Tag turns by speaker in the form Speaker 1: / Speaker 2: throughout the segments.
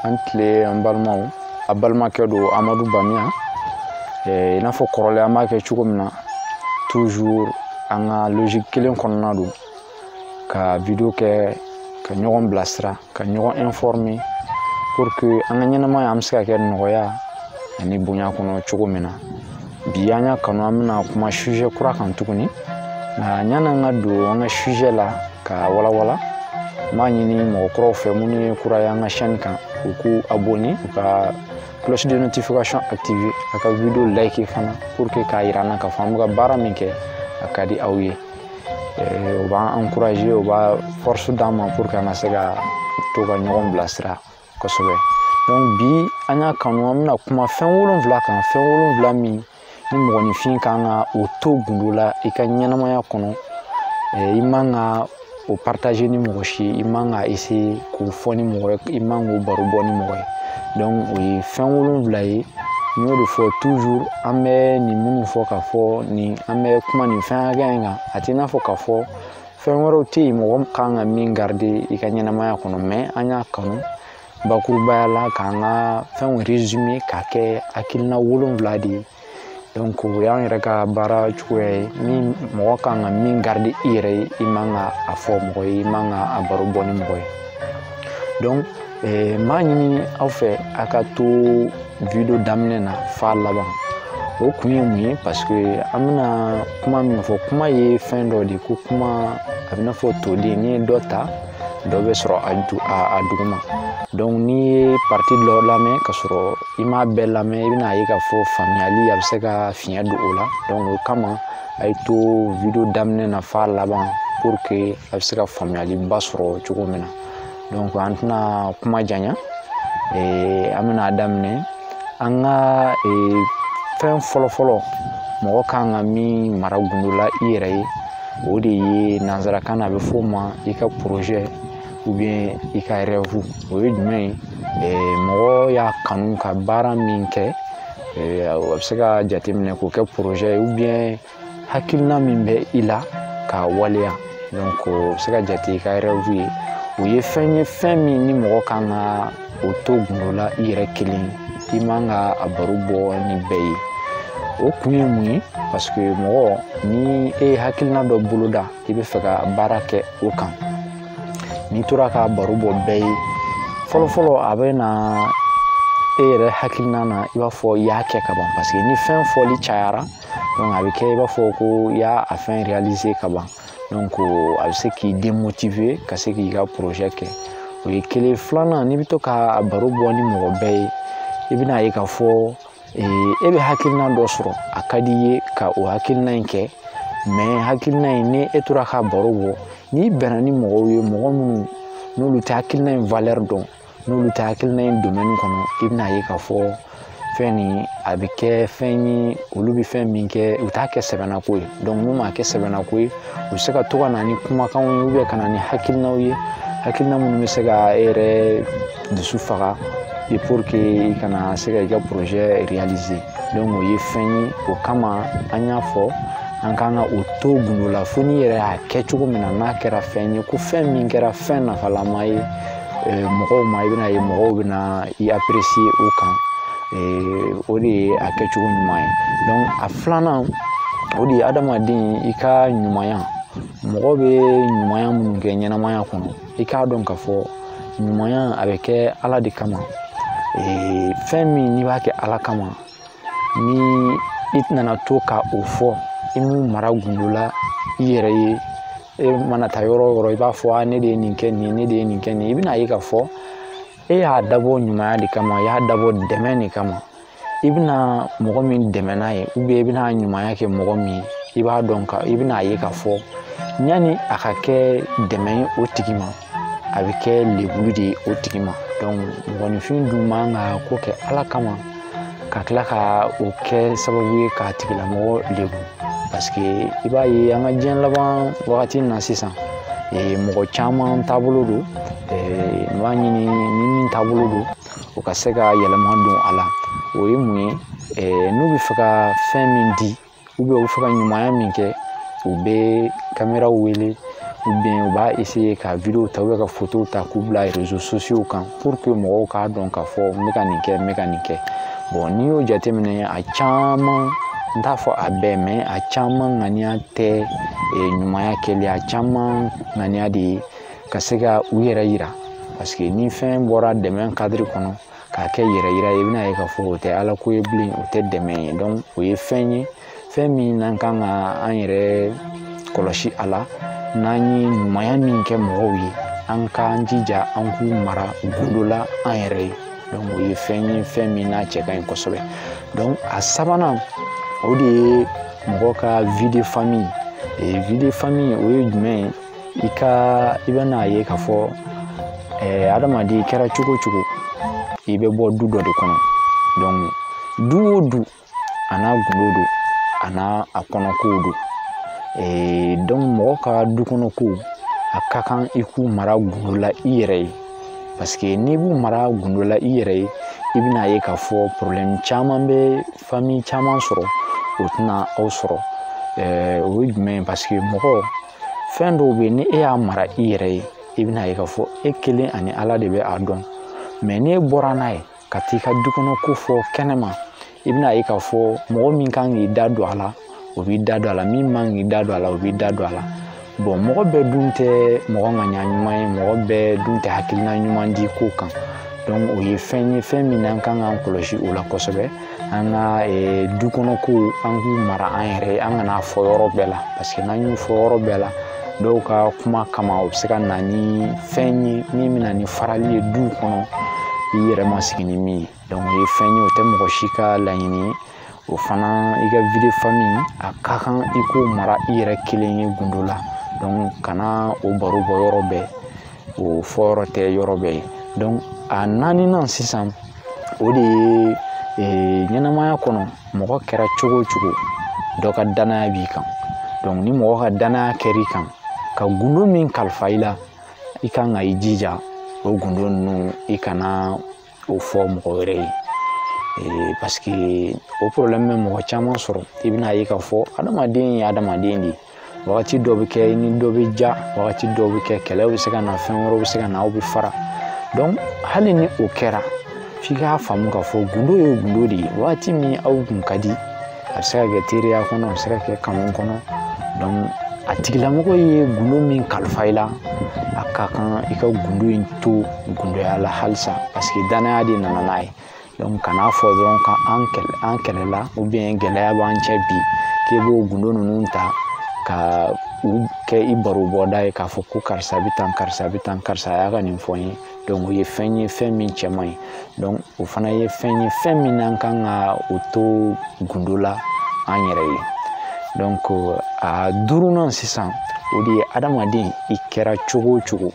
Speaker 1: a ni tile an balimaw a balimakɛ don amadu bamiya i n'a fɔ kɔrɔlen an b'a kɛ cogo min na toujours an ka logique kelen kɔnɔna don ka video kɛ ka ɲɔgɔn bilasira ka ɲɔgɔn informer pour que an ka ɲɛnamaya an bɛ se ka kɛ nɔgɔya ani bonya kɔnɔ cogo min na bi an y'a kanu an bɛna kuma sujet kura kan tuguni nka yan'an ka don an ka sujet la k'a walawala n b'a ɲini mɔgɔ kuraw fɛ minnu ye kura ye an ka chaîne kan u k'u abonner u ka cloche de notification activer a ka video like fana pour que k'a yira an na k'a fɔ an bɛ ka baara min kɛ a ka di aw ye o b'an encourager o bɛ force d'an ma pour que an ka se ka to ka ɲɔgɔn bilasira kosɛbɛ bi an y'a kanu an bɛna kuma fɛn wolonwula kan fɛn wolonwula min ni mɔgɔninfin kan ka o to gundo la i ka ɲɛnamaya kɔnɔ i man ka o partager ni mɔgɔ si i man ka essayer k'o fɔ ni mɔgɔ ye i man k'o baro bɔ ni mɔgɔ ye donc o ye fɛn wolonfila ye n y'o de fɔ toujours an bɛ nin minnu fɔ k'a fɔ ni an bɛ kuma nin fɛn hakɛya in kan a t'i n'a fɔ k'a fɔ fɛn wɛrɛw tɛ yen mɔgɔ kan ka min garidi i ka ɲɛnamaya kɔnɔ mais an y'a kanu bakurubaya la k'an ka fɛnw résumer k'a kɛ hakilina wolonfila de ye o y'an yɛrɛ ka baara cogoya ye min mɔgɔ kan ka min garidi i yɛrɛ ye i man ka a fɔ mɔgɔ ye i man ka a baro bɔ ni mɔgɔ ye donc n b'a ɲini aw fɛ a ka to video daminɛ na f'a laban o kun ye mun ye parce que an bɛna kuma min fɔ kuma ye fɛn dɔ de ye ko kuma a b'i n'a fɔ toden n'i ye dɔ ta dɔ bɛ sɔrɔ a du a a duguma donc n'i ye partie dɔ lamɛn ka sɔrɔ i m'a bɛɛ lamɛn i bɛn'a ye k'a fɔ faamuyali a bɛ se ka fiɲɛ don o la donc o kama a ye to video daminɛ na f'a laban pour que a bɛ se ka faamuyaliba sɔrɔ cogo min na donc an tɛna kuma janya ee, an bɛn'a daminɛ an ka ee, fɛn fɔlɔfɔlɔ mɔgɔ kan ka min mara gundo la i yɛrɛ ye o de ye nanzarakan na a bɛ f'o ma i ka projet ou bien i ka rêve o ye jumɛn ye mɔgɔ y'a kanu ka baara min kɛ a bɛ se ka jateminɛ k'o kɛ projet ye ou bien hakilina min bɛ i la k'a waleya donc o bɛ se ka jate i ka rêve ye o ye fɛn ye fɛn min ni mɔgɔ kan ka o to gundo la i yɛrɛ kelen i man ka a baro bɔ ni bɛɛ ye o kun ye mun ye paseke mɔgɔ ni e ye hakilina dɔ boloda i bɛ fɛ ka baara kɛ o kan n'i tora ka baro bɔ bɛɛ ye fɔlɔfɔlɔ a bɛ na e yɛrɛ hakilina na i b'a fɔ i y'a kɛ ka ban paseke ni fɛn fɔli cayara dɔrɔn a bɛ kɛ i b'a fɔ ko i y'a fɛn réaliser ka ban donc a bɛ se k'i démotiver ka se k'i ka projet kɛ o ye kelen filanan n'i bɛ to k'a baro bɔ ni mɔgɔ bɛɛ ye i bɛna ye k'a fɔ e bɛ hakilina dɔ sɔrɔ a ka di i ye ka o hakilina in kɛ mais hakilina in ni e tora k'a baro bɔ n'i bɛnna ni mɔgɔw ye mɔgɔ minnu n'olu tɛ hakilina in valɛri dɔn n'olu tɛ hakilina in domɛni kɔnɔ i bɛna ye k'a fɔ fɛn nin a bɛ kɛ fɛn ye olu bɛ fɛn min kɛ u t'a kɛ sɛbɛlako ye n'u m'a kɛ sɛbɛlako ye u bɛ se ka to ka na ni kumakanw ye ka na ni hakilinaw ye hakilina minnu bɛ se ka e yɛrɛ dusu faga i i kana se ka i ka projet réaliser o ye fɛn ye o kama an y'a fɔ an ka kan ka o to gundo la fo n'i yɛrɛ y'a kɛ cogo min na n'a kɛra fɛn ye ko fɛn min kɛra fɛn nafalama ye mɔgɔw ma i bɛna ye mɔgɔw bɛna i apprécier o kan o de ye a kɛcogo ɲuman ye donc a filanan o de ye adamaden i ka ɲumanya mɔgɔ bɛ ɲumanya minnu kɛ ɲɛnamaya kɔnɔ i k'a dɔn k'a fɔ ɲumanya a bɛ kɛ ala de kama fɛn min n'i b'a kɛ ala kama ni i nana to ka o fɔ i m'o mara gundo la i yɛrɛ ye e mana taa yɔrɔ o yɔrɔ i b'a fɔ a ne de ye nin kɛ nin ye ne de ye nin kɛ nin ye i bɛna ye k'a fɔ e y'a dabɔ ɲumanya de kama i y'a dabɔ dɛmɛ de kama i bɛna mɔgɔ min dɛmɛ n'a ye i bɛna ɲumanya kɛ mɔgɔ min ye i b'a dɔn ka i bɛna ye k'a fɔ yanni a ka kɛ dɛmɛ ye o tigi ma a bɛ kɛ lebuli de ye o tigi ma donc mɔgɔninfin dun man ka ko kɛ ala kama ka tila ka o kɛ sababu ye k'a tigilamɔgɔ lebu paseke i b'a ye an ka diɲɛ laban wagati na sisan mɔgɔ caman taabolo don n b'a ɲini ni min taabolo don o ka se ka yɛlɛma don a la o ye mun ye n'u bɛ fɛ ka fɛn min di u bɛ fɛ ka ɲumanya min kɛ u bɛ kameraw wele u bɛn u b'a essayer ka video ta ka fotow ta k'u bila réseaux sociaux kan pour que mɔgɔw k'a dɔn k'a fɔ n bɛ ka nin kɛ n bɛ ka nin kɛ bon n'i y'o jateminɛ a caman n t'a fɔ a bɛɛ mais a caman ŋaniya tɛ ɲumanya kɛli a caman ŋaniya de ye ka se ka u yɛrɛ yira parce que ni fɛn bɔra dɛmɛ kadiri kɔnɔ k'a kɛ yɛrɛ yira ye i bɛn'a ye k'a fɔ o tɛ ala ko ye bilen o tɛ dɛmɛ ye donc o ye fɛn ye fɛn min n'an kan ka an yɛrɛ kɔlɔsi a la n'an ye ɲumanya min kɛ mɔgɔw ye an k'an jija an k'u mara gundo la an yɛrɛ ye donc o ye fɛn ye fɛn min n'a cɛ ka ɲi kosɛbɛ donc a sabanan o de ye mɔgɔ ka vie de famille vie de famille o ye jumɛn ye i ka i bɛn'a ye k'a fɔ adamaden kɛra cogo o cogo i bɛ bɔ du dɔ de kɔnɔ du o du a n'a gundo don a n'a a kɔnɔ kow don Eh, donc mɔgɔ ka du kɔnɔ ko a ka kan i k'u mara gundo la i yɛrɛ ye parce que n'i b'u mara gundo la i yɛrɛ ye i bɛn'a ye k'a fɔ problème caman bɛ famille caman sɔrɔ o tɛna aw sɔrɔ eh, o ye jumɛn ye parce que mɔgɔ fɛn dɔw bɛ yen ni e y'a mara i yɛrɛ ye i bɛn'a ye k'a fɔ e kelen ani ala de bɛ a dɔn mɛ n'e bɔra n'a ye ka t'i ka du kɔnɔ ko fɔ kɛnɛma i bɛn'a ye k'a fɔ mɔgɔ min kan k'i da don a la o b'i da don a la min man kan k'i da don a la o b'i da don a la bɔn mɔgɔ bɛɛ dun tɛ mɔgɔ ŋaniya ɲuman ye mɔgɔ bɛɛ dun tɛ hakilina ɲuman di ko kan dɔnku o ye fɛn ye fɛn min n'an kan k'an kɔlɔsi o la kosɛbɛ an ka eh, du kɔnɔ ko an k'u mara an yɛrɛ ye an kan'a fɔ yɔrɔ bɛɛ la parce que n'an y'u fɔ yɔrɔ bɛɛ la dɔw ka kuma kama o bɛ se ka na ni fɛn ye min bɛ na ni farali ye du kɔnɔ i yɛrɛ ma sigi ni min ye donc o ye fɛn ye o tɛ mɔgɔ si ka laɲini ye o fana i ka vie de famille a ka kan i k'o mara i yɛrɛ kelen ye gundo la donc kana o baro bɔ yɔrɔ bɛɛ o fɔ yɔrɔ tɛ yɔrɔ bɛɛ ye dɔnku a naaninan sisan o de ye ee, ɲɛnamaya kɔnɔ mɔgɔ kɛra cogo o cogo dɔ ka danaya b'i kan dɔnku ni mɔgɔ ka danaya kɛr'i kan ka gundo min kalifa i la i kan ka i jija o gundo ninnu i kana o fɔ mɔgɔ wɛrɛ ye ee, paseke o porobilɛmu bɛ mɔgɔ caman sɔrɔ i bɛn'a ye k'a fɔ adamaden ye adamaden de ye wagati dɔ bɛ kɛ i ni dɔ bɛ diya wagati dɔ bɛ kɛ kɛlɛ bɛ se ka na fɛn wɛrɛw bɛ se ka na aw bɛ fara donc hali ni o kɛra f'i k'a faamu k'a fɔ gundo ye gundo de ye wagati min aw kun ka di a bɛ se ka kɛ teriya kɔnɔ a bɛ se ka kɛ kanu kɔnɔ a tigilamɔgɔ ye gundo min kalifa i la a ka kan i ka gundo in to gundoya la halisa paseke danaya de nana n'a ye kan'a fɔ dɔrɔn ka an kɛlɛ an kɛlɛla gɛlɛya b'an cɛ bi k'e b'o gundo ninnu ta ka u kɛ i baro bɔda ye k'a fɔ ko karisa bɛ tan karisa bɛ tan karisa y'a ka nin fɔ n ye donc o ye fɛn ye fɛn min cɛ man ɲi donc o fana ye fɛn ye fɛn min n'an kan ka o to gundo la an yɛrɛ ye donc a duurunan sisan o de ye adamaden i kɛra cogo o cogo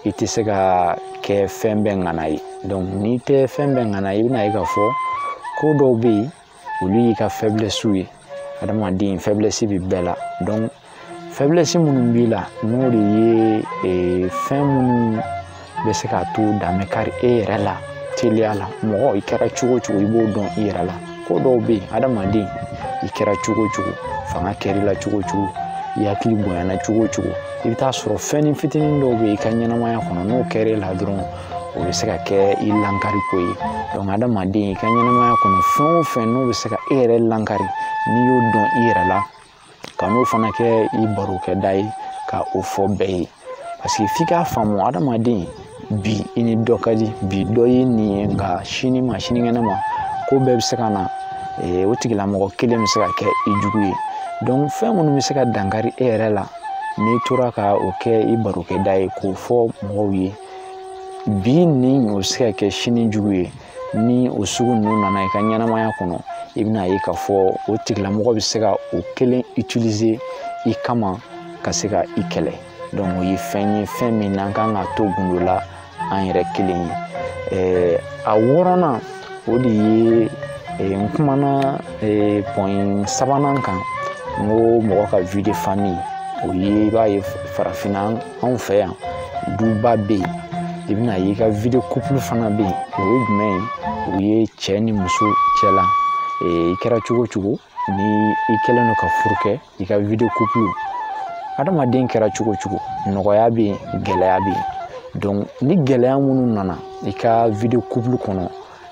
Speaker 1: i tɛ se ka kɛ fɛn bɛɛ ŋana ye donc n'i tɛ fɛn bɛɛ ŋana ye i bɛna ye k'a fɔ ko dɔw bɛ yen olu y'i ka fɛblɛsiw ye adamaden fɛblɛsi bɛ bɛɛ la donc fɛblɛsi minnu b'i la n'o de ye eh, fɛn minnu bɛ se k'a to dan bɛ kari e yɛrɛ la teliya la mɔgɔ i kɛra cogo o cogo i b'o dɔn i yɛrɛ la ko dɔw bɛ yen adamaden i kɛra cogo o cogo fanga kɛr'i la cogo o cogo i hakili bonyana cogo o cogo i bɛ taa sɔrɔ fɛnnin fitinin dɔw bɛ yen i ka ɲɛnamaya kɔnɔ n'o kɛra e la dɔrɔn o bɛ se ka kɛ i lankari ko ye donc adamaden i ka ɲɛnamaya kɔnɔ fɛn o fɛn n'o bɛ se ka e yɛrɛ lankari n'i y'o dɔn i yɛrɛ la kan'o fana kɛ i barokɛda ye ka o fɔ bɛɛ ye parce que f'i k'a faamu adamaden bi i ni dɔ ka di bi dɔ y'i ɲin ye nka sini ma sinikɛnɛ ma ko bɛɛ bɛ se ka na eh, o tigilamɔgɔ kelen bɛ se ka kɛ i jugu ye donc fɛn minnu bɛ se ka dankari e yɛrɛ la n'i tora ka o kɛ i barokɛda ye k'o fɔ mɔgɔw ye bi ɲin o bɛ se ka kɛ sini jugu ye ni o sugu ninnu nana i ka ɲɛnamaya kɔnɔ i bɛna ye k'a fɔ o tigilamɔgɔ bɛ se ka o kelen utiliser i kama ka se ka i kɛlɛ donc o ye fɛn ye fɛn min n'an kan k'a to gundo la an yɛrɛ kelen ye eh, a wɔɔrɔnan o de ye eh, n kumana eh, pɔn sabanan kan n ko mɔgɔ ka vie de famille o ye i b'a ye farafinna anw fɛ yan duba bɛ yen i bɛna ye i ka vie de couple fana bɛ yen o ye jumɛn ye o ye cɛ ni muso cɛla i kɛra cogo cogo ni i kɛlen don ka furu kɛ i ka vie de couple adamaden kɛra cogo cogo nɔgɔya bɛ yen gɛlɛya bɛ yen donc ni gɛlɛya minnu nana i ka vie de couple kɔnɔ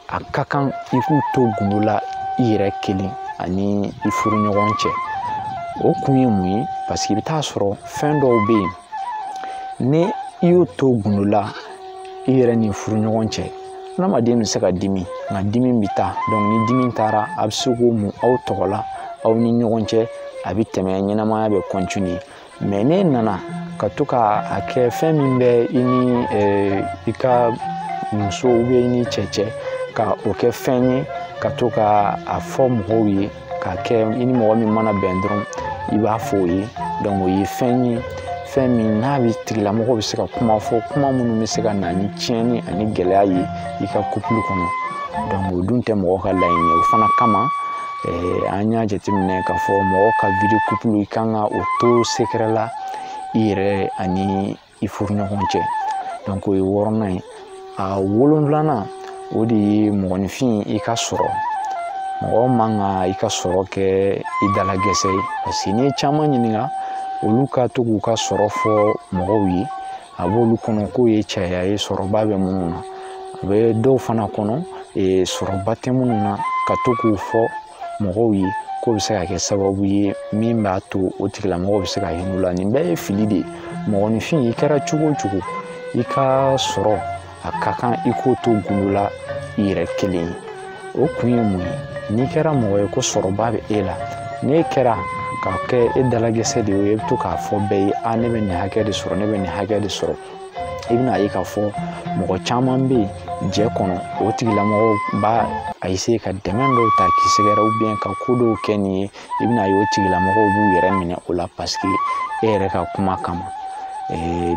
Speaker 1: a ka kan i k'u to gundo la i yɛrɛ kelen ani i furuɲɔgɔn cɛ o kun ye mun ye parce que i bɛ taa sɔrɔ fɛn dɔw bɛ yen ni i y'o to gundo la i yɛrɛ ni furuɲɔgɔn cɛ hadamaden bɛ se ka dimi nka dimi bɛ taa donc ni dimi taara a bɛ se k'o mun aw tɔgɔ la aw ni ɲɔgɔn cɛ a bɛ tɛmɛ ɲɛnamaya bɛ mais n'e nana ka to ka a kɛ fɛn min bɛ i ni i ka muso bɛ i ni cɛ cɛ ka o kɛ fɛn ye ka to ka a fɔ mɔgɔw ye k'a kɛ i ni mɔgɔ min mana bɛn dɔrɔn i b'a fɔ o ye donc o ye fɛn ye fɛn min n'a bɛ tigilamɔgɔ bɛ se ka kuma fɔ kuma minnu bɛ se ka na ni tiɲɛni ani gɛlɛya ye i ka couple kɔnɔ donc o dun tɛ mɔgɔ ka laɲini ye o fana kama an y'a jateminɛ k'a fɔ mɔgɔ ka vie de couple i kan ka o to sekɛrɛ la i yɛrɛ ani i furuɲɔgɔn cɛ donc o ye wɔɔrɔnan ye a wolonfilanan o de ye mɔgɔninfin i ka sɔrɔ mɔgɔ man kan i ka sɔrɔ kɛ i dalagɛsɛ ye paseke n'i ye caman ɲininka olu ka to k'u ka sɔrɔ fɔ mɔgɔw ye a b'olu kɔnɔ k'o ye caya ye sɔrɔba bɛ minnu na a bɛ dɔw fana kɔnɔ sɔrɔba tɛ minnu na ka to k'o fɔ mɔgɔw ye k'o bɛ se ka kɛ sababu ye min b'a to o tigilamɔgɔw bɛ se ka hinɛ u la nin bɛɛ ye fili de ye mɔgɔninfin i kɛra cogo o cogo i ka sɔrɔ a ka kan i k'o to gundo la i yɛrɛ kelen ye o kun ye mun ye n'i kɛra mɔgɔ ye ko sɔrɔba bɛ e la n'e kɛra ka kɛ e dalagɛsɛ de ye e bɛ to k'a fɔ bɛɛ ye a ne bɛ nin hakɛ de sɔrɔ ne bɛ nin hakɛ de sɔrɔ i bɛna a ye k'a fɔ mɔgɔ caman bɛ yen diɲɛ kɔnɔ o tigilamɔgɔw b'a eseye ka dɛmɛ dɔw ta k'i sɛgɛrɛ ka ko dɔw kɛ nin ye i bɛna a ye o tigilamɔgɔw b'u yɛrɛ minɛ o la paseke e yɛrɛ ka kuma kama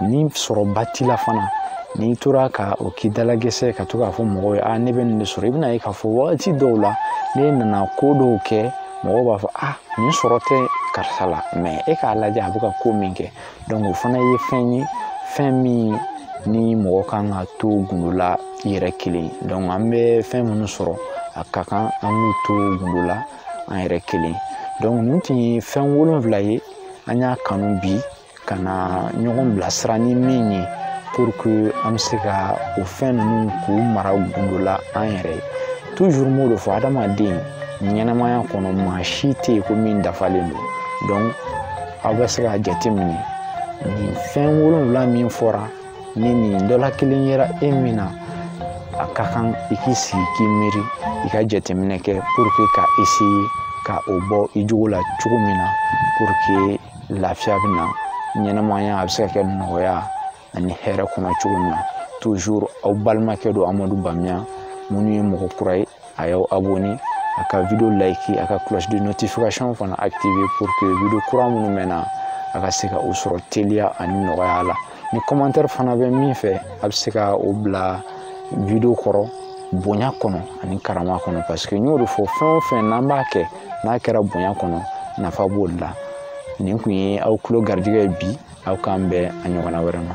Speaker 1: ni sɔrɔba t'i la fana n'i tora ka o k'i dalagɛsɛ ka to k'a fɔ mɔgɔw ye a ne bɛ nin de sɔrɔ i bɛna a ye k'a fɔ wagati dɔw la n'e nana ko dɔw kɛ mɔgɔw b'a fɔ a nin sɔrɔ tɛ karisa la mɛ e k'a lajɛ a bɛ ka ko min kɛ o fana ye fɛn ye fɛn min ni mɔgɔ kan ka to gundo la i yɛrɛ kelen an bɛ fɛn minnu sɔrɔ a ka kan an k'u to gundo la an yɛrɛ kelen donc nin tun ye fɛn wolonfila ye an y'a kanu bi ka na ɲɔgɔn bilasira ni min ye pour que an bɛ se ka o fɛn ninnu k'u mara gundo la an yɛrɛ ye toujours n b'o de fɔ adamaden ɲɛnamaya kɔnɔ maa si tɛ yen ko min dafalen don donc aw bɛ se k'a jateminɛ nin fɛn wolonfila min fɔra ni nin dɔ la kelen yera e min na a ka kan i k'i sigi k'i miiri i ka jateminɛ kɛ puruke k'a eseye ka o bɔ i jogo la cogo min na puruke lafiya bɛ na ɲɛnamaya a bɛ se ka kɛ nɔgɔya ani hɛrɛ kɔnɔ cogo min na toujours aw balimakɛ don amadu bamiya minnu ye mɔgɔ kura ye a y'aw abonné a ka video like a ka cloche de notification fana activé pour que video kura minnu bɛ na a ka se ka o sɔrɔ teliya ani nɔgɔya la ni commentaire fana bɛ min fɛ a bɛ se ka o bila video kɔrɔ bonya kɔnɔ ani karama kɔnɔ parce que n y'o de fɔ fɛn o fɛn n'an b'a kɛ n'a kɛra bonya kɔnɔ nafa b'o de la nin tun ye aw tulo garijɛgɛ ye bi aw k'an bɛn a ɲɔgɔnna wɛrɛ ma